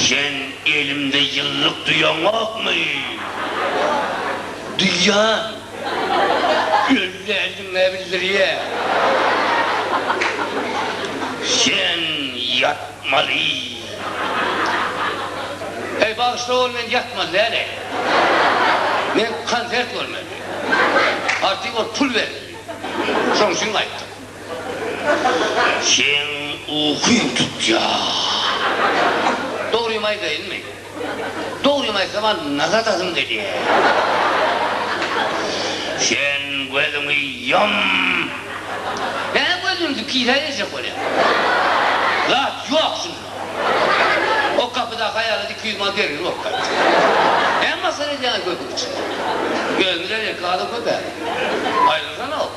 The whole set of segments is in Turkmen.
Sen elimde ýyllyk duýaňokmy? Duýýan. Ýöne eliň-ä bildirýär. Sen ýatmaly. Heý, bagyşla ol men ýatmaly däl-eý. Men konsert görmeli. Artyk ol pul bermeli. Şoň üçin gaýtdym. Seň ukyň tutýar. Dogrymy aýdaýynmy? Dogrymy aýsam-a nazar atasym gelýär. Sen gözüňi ýum. Nä gözümizi pidä berjek bolýaň? Zat ýok şunda. O gapydaky aýala iki ýüz manat bergili bolup gaýtdy. Näme masgara edýäňiz gözümiň içinde? Gözümiz äleki adam köp-ä. Aýrylyşanok.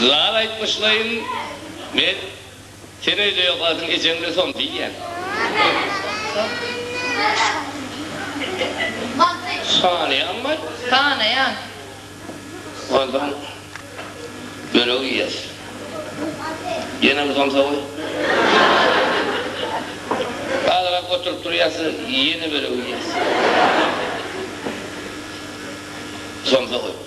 Lal aýtmyşlaýyn men sen öýde ýokasyň ejeňle son diýýän. Sanaýaňmy? Sanaýan. Onsoň bölek iýýäs. Ýenemi somsa goý. Azrak oturyp turýas ýene bölek iýýäs. Somsa goý.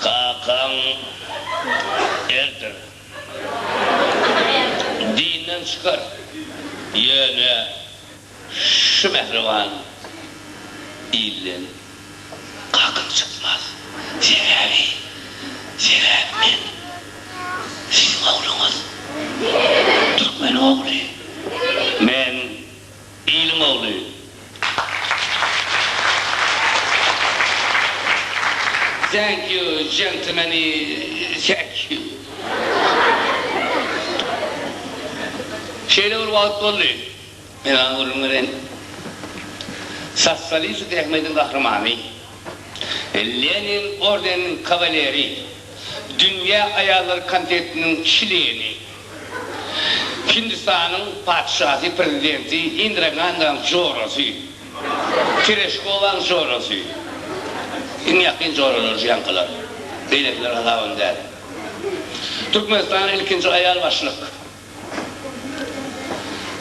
Kakaň erdir. Dinden çykar. Ýöne şu mähriban ilden kakam çykmaz. Sebäbi, sebäbi men siziň ogluňyz. Türkmeniň ogly. Men Iliň ogly. Thank you gentlemany thank you. Şeýle bir wagt boldy. Men aňa gürrüň bereýin. Sossalist zähmetiň gahrymany, Lenin ordeniniň kawaleri, Dünýä aýallary komitetiniň çleni. Hindistanyň patyşasy, prezidenti Indra Gandaň jorasy, Tereshkowaň jorasy, iň ýakyn joralar şu ýaňkylar, beýlekiler hasabam däl. Türkmenistanyň ilkinji aýal başlyk,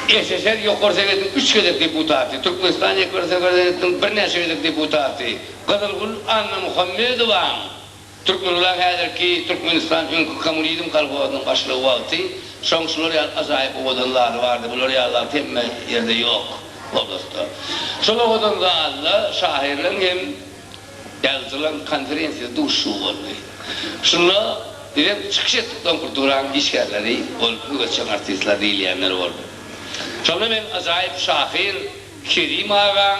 SSR Ýokary Sowetiniň üç gezek deputaty, Türkmenistan Ýokary Sowetiniň birnäçe gezek deputaty Gyzylgül Annamuhammedowaň, Türkmenula häzirki Türkmenistan öňki kommunizm kolhozynyň başlygy wagty şoň şular ýaly ajaýyp owadan zaly bardy, bular ýaly zat hemme ýerde ýok oblastda. Şol owadan zalda şahyrlaň hem ýazyjylaň konferensiýasy duşuşygy boldy. Şunda bizem çykyş etdik doňkur duraň işgärleri bolup öwütjeň artistler diýilýänler boldy. Şonda men ajaýyp şahyr Kerim agaň,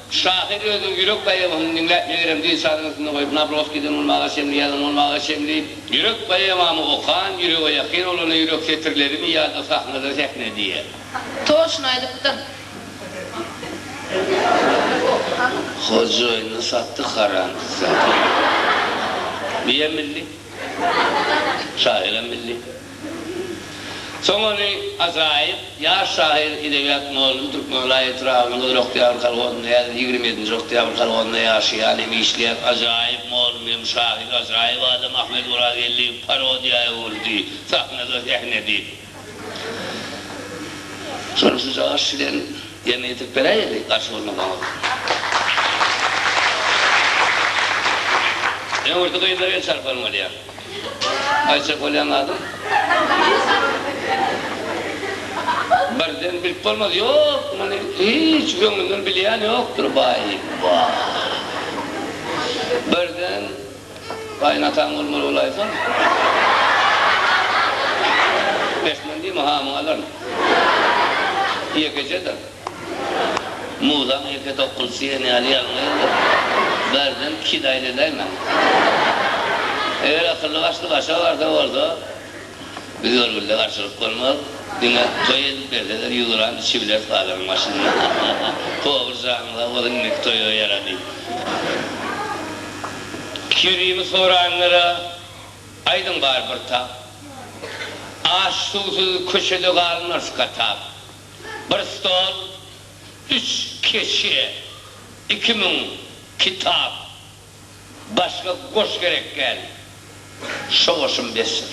Şahyr özüniň ýürek poemasyny diňläp megerem dil sazyny üstünde goýup Nawrozkiden bolmaga çenli ýazan bolmaga çenli Ýürek poemamy okan ýürege ýakyn bolana ýürek setirlerimi ýa-da sahnada sähne diýýä. Toşyny aýdypdyň. Hojaýyny satdyk haram zat. Biýem milli. Şahyram milli. Soň ony ajaýyp ýaş şahyr, edebiýat mugallym Türkmenbaý etrabynyň Özoktyýabr kolhozynda, häzir ýigrimi ýedinji Oktyýabr kolhozynda ýaşaýan hem işleýän ajaýyp mugallym hem şahyr, ajaýyp adam Ahmet Orazgeldiýew parodiýa öwürdi, sahnada sähnedi. Şony şu jagaş bilen ýerine ýetirip beräýeli, garşy bolmasaňyz. Öňürti gyzlar el çarpalym alýar. Aýçek bolýan adam. Birden bilip bolmaz. Ýok, muny hiç göňlünden bilýän ýokdur, baý, baý. Birden gaýynataň bolmaly bolaýsaň. Bes men diýme, hamyňy alaryn. Ýekejedir. Muzaň ýeke dokundysy diýen ýaly ýalňyz Berzent kişi-de aýladäýmä. Eger akylly başly başga barda bolsa, biz görgülde garşylyk bolmaz. Diňe toý edip berseler ýuwduran içibileris bazaryň başynda. Powyz janyň sag bolsun indiki toýa ýarady. Kerimi soranlara aýdyň bar bir tap. Aç-suwsuz köçede galmarys gatap. bir stol, üç keçe, iki müň kitap, başga goş gerek däl. Şo goşum besdir.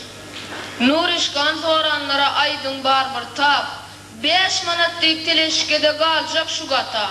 Nuryşkan soranlara aýdyň bar bir tap, Bäş manat diýip teleşikede galjak şu gata.